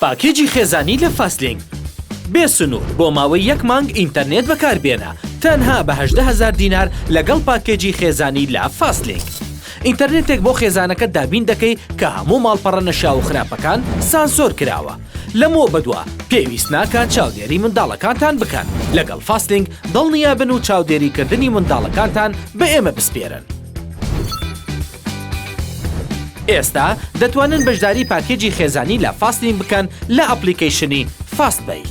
پاکێجی خێزانی لە فاستلینک بێ سنوور بۆ ماوەی یەک مانگ ئینتەرنێت بەکاربێنە تەنها بە هەژدە هەزار دینار لەگەڵ پاکێجی خێزانی لە فاستلینک ئینتەرنێتێک بۆ خێزانەکەت دابین دەکەی کە هەموو ماڵپەڕە نەشیاو و خراپەکان سانسۆر کراوە لەمەوە بەدوا پێویست ناکات چاودێری منداڵەکانتان بکەن لەگەڵ فاستلینک دڵنیابن و چاودێریکردنی منداڵەکانتان بە ئێمە بسپێرن. ئێستا دەتوانن بەشداری پاکێجی خێزانی لە فاستین بکەن لە ئەپلیکەیشنی فاست بەی.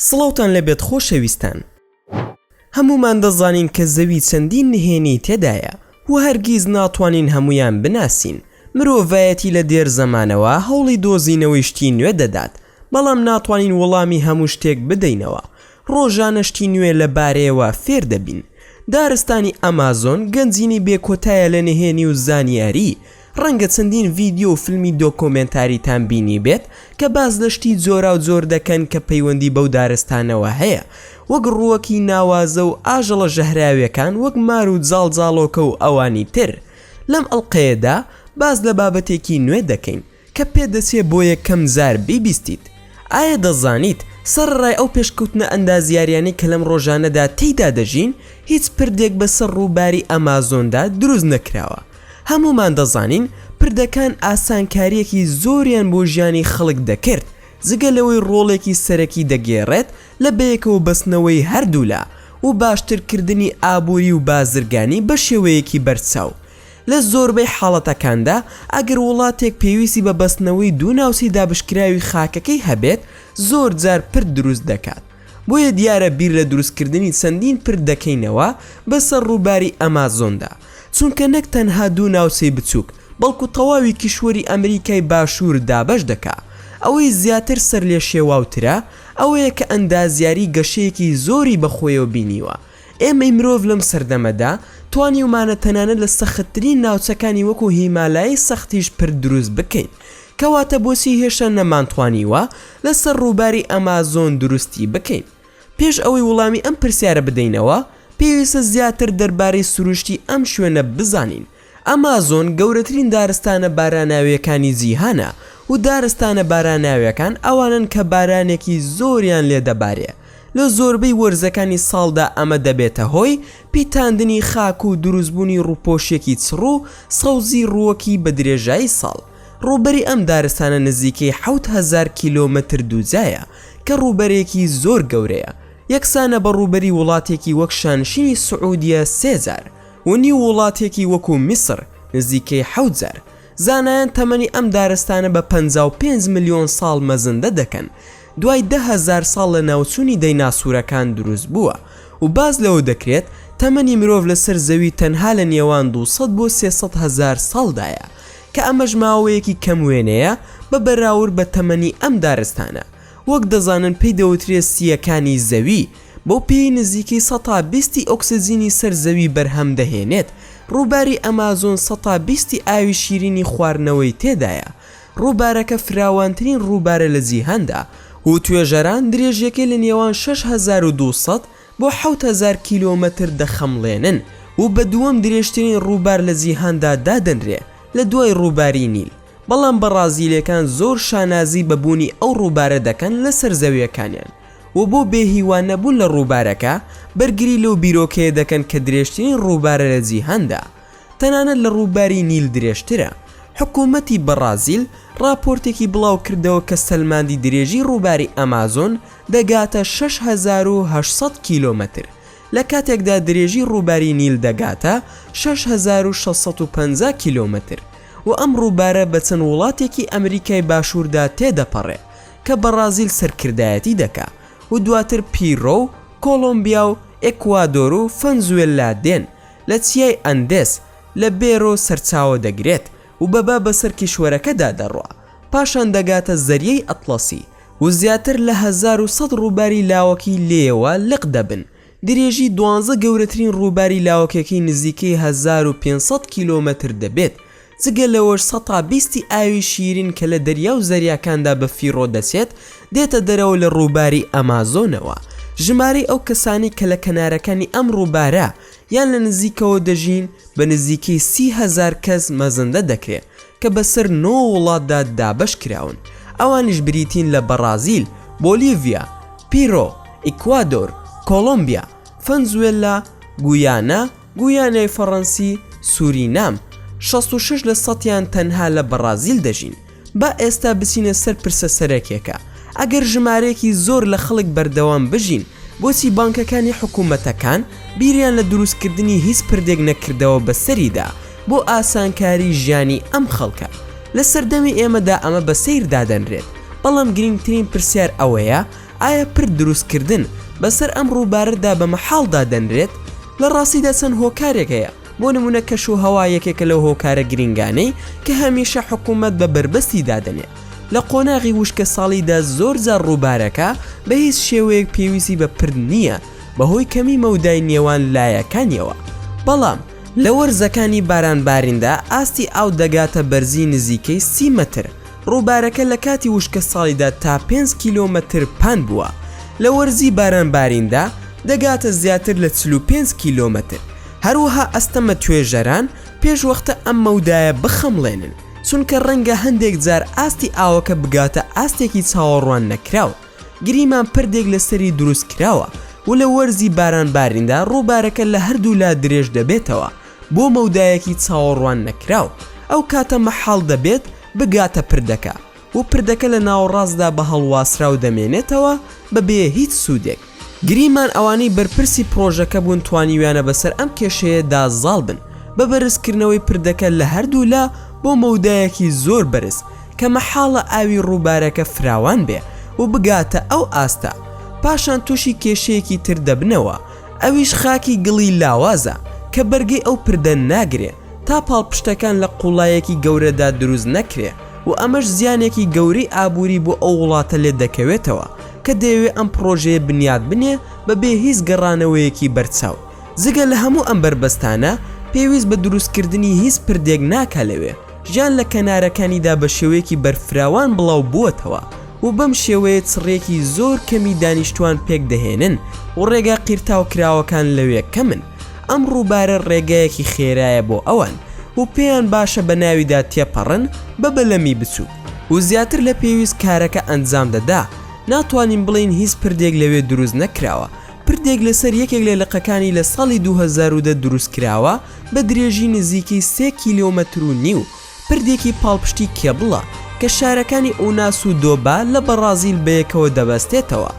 سڵاوتان لەبێت خۆشەویستان هەمومان دەزانین کە زەوی چەندین نهێنی تێدایە و هەرگیز ناتوانین هەمویان بناسین مرۆڤایەتی لە دێر زەمانەوە هەوڵی دۆزینەوەی شتی نوێ دەدات بەڵام ناتوانین وڵامی هەموو شتێک بدەینەوە، ڕۆژانە شتی نوێ لە بارەیەوە فێر دەبین. دارستانی ئەمازۆن گەنجینەی بێکۆتایە لە نهێنی و زانیاری، ڕەنگە چەندین ڤیدیۆ و فیلمی دۆکۆمێنتاریتان بینیبێت کە باس لە شتی جۆراوجۆر دەکەن کە پەیوەندی بەو دارستانەوە هەیە، وەک ڕووەکی ناوازە و ئاژەڵە ژەهراویەکان وەک مار و جاڵجاڵۆکە و ئەوانی تر. لەم ئەڵقەیەدا باس لە بابەتێکی نوێ دەکەین. کە پێدەچێ بۆ یەکەم جار بیبیستیت. ئایا دەزانیت سەڕەڕای ئەو پێشکەوتنە ئەندازیاریانەی کە لەم ڕۆژانەدا تێیدا دەژین، هیچ پردێک بەسەر ڕووباری ئەمازۆندا دروست نەکراوە؟ هەموومان دەزانین پردەکان ئاسانکارییەکی زۆریان بۆ ژیانی خەڵک دەکرد، جگە لەوەی ڕۆڵێکی سەرەکی دەگێڕێت لە بەیەکەوە بەستنەوەی هەردوولا و باشترکردنی ئابووری و بازرگانی بەشێوەیەکی بەرچاو. لە زۆربەی حاڵەتەکاندا، ئەگەر وڵاتێک پێویستی بە بەستنەوەی دوو ناوچەی دابشکراوی خاکەکەی هەبێت، زۆر جار پرد دروست دەکات، بۆیە دیارە بیر لە دروستکردنی چەندین پرد دەکەینەوە بەسەر ڕووباری ئەمازۆندا، چونکە نەک تەنها دوو ناوچەی بچووک، بەڵکو تەواوی کیشوەری ئەمریکای باشوور دابەش دەکا. ئەوەی زیاتر سەرلێشێواوترە، ئەوەیە کە ئەندازیاری گەشەیەکی زۆری بەخۆیەوە بینیوە، ئێمەی مرۆڤ لەم سەردەمەدا توانیومانە تەنانەت لە سەختترین ناوچەکانی وەکو هیمالایی سەختیش پرد دروست بکەین، کەواتە بۆچی هێشتا نەمانتوانیوە لەسەر ڕووباری ئەمازۆن دروستی بکەین؟ پێش ئەوەی وڵامی ئەم پرسیارە بدەینەوە، پێویستە زیاتر دەربارەی سروشتی ئەم شوێنە بزانین، ئەمازۆن گەورەترین دارستانە باراناوییەکانی جیهانە و دارستانە باراناوییەکان ئەوانەن کە بارانێکی زۆریان لێ دەبارێ لە زۆربەی وەرزەکانی ساڵدا ئەمە دەبێتە هۆی پیتاندنی خاک و دروستبوونی ڕووپۆشیەکی چڕ و سەوزی ڕووەکی بە درێژایی ساڵ ڕووبەری ئەم دارستانە نزیکەی حەوت هەزار کیلۆمەتر دووجایە کە ڕووبەرێکی زۆر گەورەیە یەکسانە بە ڕووبەری وڵاتێکی وەک شانشینی سعودیە سێ جار و نیو وڵاتێکی وەکو میسر نزیکەی حەوت جار، زانایان تەمەنی ئەم دارستانە بە پەنجا و پێنج ملیۆن ساڵ مەزندە دەکەن، دوای دە هەزار ساڵ لە ناوچوونی دەیناسورەکان دروست بووە و باس لەوە دەکرێت تەمەنی مرۆڤ لەسەر زەوی تەنها لە نێوان دوو سەد بۆ سێ سەد هەزار ساڵدایە کە ئەمەش ماوەیەکی کەم وێنەیە بە بەراورد بە تەمەنی ئەم دارستانە وەک دەزانن پێی دەوترێت سییەکانی زەوی بەو پێیەی نزیکەی سەد تا بیست ی ئۆکسجینی سەر زەوی بەرهەم دەهێنێت، ڕووباری ئەمازۆن سەد تا بیست ی ئاوی شیرینی خواردنەوەی تێدایە، ڕووبارەکە فراوانترین ڕووبارە لە جیهاندا و توێژەران درێژییەکەی لە نێوان شەش هەزار و دوو سەد بۆ حەوت هەزار کیلۆمەتر دەخەمڵێنن و بە دووەم درێژترین ڕووبار لە جیهاندا دادەنرێ لە دوای ڕووباری نیل، بەڵام بەڕازیلیەکان زۆر شانازی بە بوونی ئەو ڕووبارە دەکەن لەسەر زەویەکانیان. و بۆ بێ هیوا نەبوون لە ڕووبارەکە بەرگری لەو بیرۆکەیە دەکەن کە درێژترین ڕووبارە لە جیهاندا تەنانەت لە ڕووباری نیل درێژترە. حکوومەتی بەڕازیل ڕاپۆرتێکی بڵاو کردەوە کە سەلماندی درێژی ڕووباری ئەمازۆن دەگاتە شەش هەزار و هەشت سەد کیلۆمەتر لە کاتێکدا درێژی ڕووباری نیل دەگاتە شەش هەزار و شەش سەد و پەنجا کیلۆمەتر و ئەم ڕووبارە بە چەند وڵاتێکی ئەمریکای باشووردا تێدەپەڕێ کە بەڕازیل سەرکردایەتی دەکا و دواتر پیڕۆ و کۆڵۆمبیا و ئێکوادۆر و فەنزوێللا دێن، لە چیای ئەندێس لە بێرۆ سەرچاوە دەگرێت و بە با بەسەر کیشوەرەکەدا دەڕوا، پاشان دەگاتە زەریای ئەتڵەسی و زیاتر لە هەزار و سەد ڕووباری لاوەکی لێیەوە لق دەبن، درێژی دوانزە گەورەترین ڕووباری لاوەکەکەی نزیکەی هەزار و پێنج سەد کیلۆمەتر دەبێت، جگە لەوەش سەتا بیستی ئاوی شیرین کە لە دەریا و زەریاکاندا بە فیڕۆ دەچێت دێتە دەرەوە لە ڕووباری ئەمازۆنەوە، ژمارەی ئەو کەسانەی کە لە کەنارەکانی ئەم ڕووبارە یان لە نزیکەوە دەژین بە نزیکەی سی هەزار کەس مەزەندە دەکرێت، کە بەسەر نۆ وڵاتدا دابەش کراون، ئەوانیش بریتین لە بەڕازیل، بۆلیڤیا، پیرۆ، ئیکوادۆر، کۆڵۆمبیا، فەنزوێللا، گویانا، گویانای فەڕەنسی، سورینام، شەست و شەش لە سەتیان تەنها لە بەڕازیل دەژین. با ئێستا بچینە سەر پرسە سەرەکیەکە، ئەگەر ژمارەیەکی زۆر لە خەڵک بەردەوام بژین، بۆچی بانکەکانی حکومەتەکان بیریان لە دروستکردنی هیچ پردێک نەکردەوە بەسەریدا، بۆ ئاسانکاری ژیانی ئەم خەڵکە لە سەردەمی ئێمەدا ئەمە بە سەیر دادەنرێت بەڵام گرنگترین پرسیار ئەوەیە ئایا پرد دروستکردن بەسەر ئەم ڕووبارەدا بە مەحاڵ دادەنرێت؟ لە ڕاستیدا چەند هۆکارێک هەیە بۆ نمونە کەشوهەوا یەکێکە لەو هۆکارە گرنگانەی کە هەمیشە حکومەت بە بەربەستی دادەنێ لە قۆناغی وشکە ساڵیدا زۆر جار ڕووبارەکە بە هیچ شێوەیەک پێویستی بە پرد نییە بەهۆی کەمی مەودای نێوان لایەکانیەوە بەڵام لە وەرزەکانی بارانباریندا ئاستی ئاو دەگاتە بەرزی نزیکەی سی مەتر، ڕووبارەکە لە کاتی وشکەساڵیدا تا پێنج کیلۆمەتر پان بووە، لە وەرزی بارانباریندا دەگاتە زیاتر لە چل و پێنج کیلۆمەتر، هەروەها ئەستەمە توێژەران پێشوەختە ئەم مەودایە بخەمڵێنن، چونکە ڕەنگە هەندێک جار ئاستی ئاوەکە بگاتە ئاستێکی چاوەڕوان نەکراو. گریمان پردێک لە سەری دروست کراوە و لە وەرزی باران باریندا ڕووبارەکە لە هەردوو لا درێژ دەبێتەوە بۆ مەودایەکی چاوەڕوان نەکراو، ئەو کاتە مەحاڵ دەبێت بگاتە پردەکە و پردەکە لە ناوەڕاستدا بە هەڵواسراو دەمێنێتەوە بە بێ هیچ سوودێک. گریمان ئەوانەی بەرپرسی پڕۆژەکە بوون توانیویانە بەسەر ئەم کێشەیە دا زاڵ بن بە بەرزکردنەوەی پردەکە لە هەردوو لا بۆ مەودایەکی زۆر بەرز، کە مەحاڵە ئاوی ڕووبارەکە فراوان بێ و بگاتە ئەو ئاستە، پاشان تووشی کێشەیەکی تر دەبنەوە، ئەویش خاکی گڵی لاوازە، کە بەرگەی ئەو پردە ناگرێ، تا پاڵپشتەکان لە قووڵایەکی گەورەدا دروست نەکرێ و ئەمەش زیانێکی گەورەی ئابووری بۆ ئەو وڵاتە لێ دەکەوێتەوە، کە دەیەوێ ئەم پڕۆژەیە بنیات بنێ بە بێ هیچ گەڕانەوەیەکی بەرچاو. جگە لە هەموو ئەم بەربەستانە، پێویست بە دروستکردنی هیچ پردێک ناکا لەوێ. ژیان لە کەنارەکانیدا بە شێوەیەکی بەرفراوان بڵاو بووەتەوە و بەم شێوەیە چڕێکی زۆر کەمی دانیشتوان پێک دەهێنن و ڕێگا قیرتاو کراوەکان لەوێ کەمن ئەم ڕووبارە ڕێگایەکی خێرایە بۆ ئەوان و پێیان باشە بە ناویدا تێپەڕن بە بەلەمی بچووک و زیاتر لە پێویست کارەکە ئەنجام دەدا ناتوانین بڵێین هیچ پردێک لەوێ دروست نەکراوە پردێک لەسەر یەکێک لە لقەکانی لە ساڵی 2010 دروست کراوە بە درێژی نزیکەی سێ کیلۆمەتر و نیو پردێکی پاڵپشتی کێبڵە کە شارەکانی ئوناس و دۆبا لە بەڕازیل بەیەکەوە دەبەستێتەوە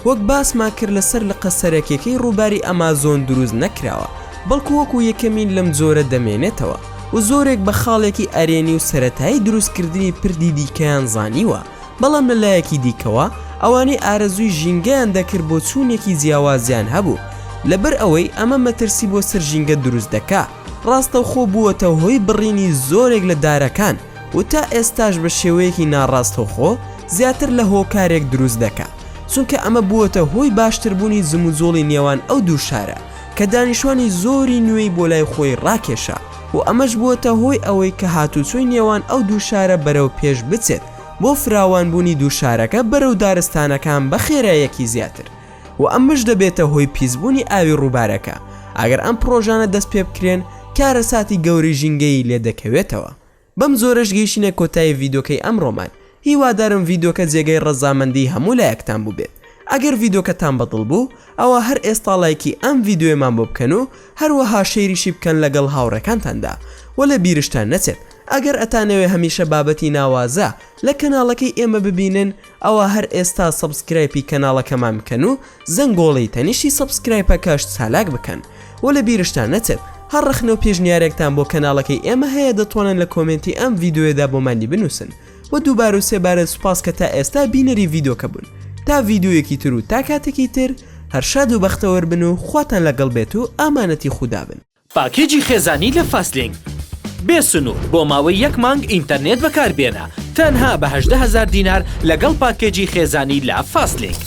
وەک باسمان کرد لەسەر لقە سەرەکیەکەی ڕووباری ئەمازۆن دروست نەکراوە بەڵکو وەکو یەکەمین لەم جۆرە دەمێنێتەوە و زۆرێک بە خاڵێکی ئەرێنی و سەرەتایی دروستکردنی پردی دیکەیان زانیوە. بەڵام لە لایەکی دیکەوە ئەوانەی ئارەزووی ژینگەیان دەکرد بۆچوونێکی جیاوازیان هەبوو لەبەر ئەوەی ئەمە مەترسی بۆ سەر ژینگە دروست دەکا ڕاستەوخۆ بووەتە هۆی بڕینی زۆرێک لە دارەکان و تا ئێستاش بە شێوەیەکی ناڕاستەوخۆ زیاتر لە هۆکارێک دروست دەکا چونکە ئەمە بووەتە هۆی باشتربوونی جموجۆڵی نێوان ئەو دوو شارە کە دانیشتوانی زۆری نوێی بۆ لای خۆی ڕاکێشا و ئەمەش بووەتە هۆی ئەوەی کە هاتووچۆی نێوان ئەو دوو شارە بەرەو پێش بچێت بۆ فراوانبوونی دوو شارەکە بەرەو دارستانەکان بە خێرایەکی زیاتر و ئەمەش دەبێتە هۆی پیسبوونی ئاوی ڕووبارەکە ئەگەر ئەم پڕۆژانە دەست پێ بکرێن کارەساتی گەورەی ژینگەیی لێ دەکەوێتەوە. بەم جۆرەش گەیشینە کۆتایی ڤیدۆکەی ئەمڕۆمان هیوادارم ڤیدۆکە جێگەی ڕەزامەندی هەموو لایەکتان بووبێت ئەگەر ڤیدۆکەتان بەدڵ بوو ئەوا هەر ئێستا ڵایکی ئەم ڤیدۆیەمان بۆ بکەن و هەروەها شەیریشی بکەن لەگەڵ هاوڕێکانتاندا وە لە بیرشتان نەچێت ئەگەر ئەتانەوێ هەمیشە بابەتی ناوازە لە کەناڵەکەی ئێمە ببینن ئەوا هەر ئێستا سەبسکرایپی کەناڵەکەمان بکەن و زەنگۆڵەی تەنیشتی سەبسکرایپەکەش چالاک بکەن و لە بیرشتان نەچێت هەر ڕەخنە و پێشنیارێکتان بۆ کەناڵەکەی ئێمە هەیە دەتوانن لە کۆمێنتی ئەم ڤیدۆیەدا بۆمانی بنووسن و دووبارە و سێبارە سوپاس کە تا ئێستا بینەری ڤیدۆکە بوون تا ڤیدۆیەکی تر و تا کاتێکی تر هەر شاد و بەختەوەر بن و خواتان لەگەڵ بێت و ئامانەتی خودا بن. پاکێجی خێزانی لە فاستلینک بێ سنوور بۆ ماوەی یەک مانگ ئینتەرنێت بەکاربێنە تەنها بە هەژدە هەزار دینار لەگەڵ پاکێجی خێزانی لە فاستلینک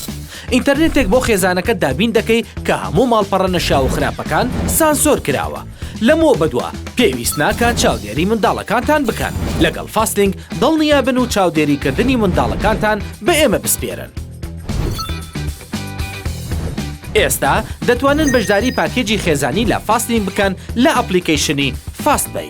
ئینتەرنێتێک بۆ خێزانەکەت دابین دەکەی کە هەموو ماڵپەڕە نەشیاو و خراپەکان سانسۆر کراوە لەمەوە بەدوا پێویست ناکات چاودێری منداڵەکانتان بکەن لەگەڵ فاستلینک دڵنیابن و چاودێری کردنی منداڵەکانتان بە ئێمە بسپێرن. ئێستا دەتوانن بەشداری پاکێجی خێزانی لە فاستین بکەن لە ئەپلیکەیشنی فاست بەی.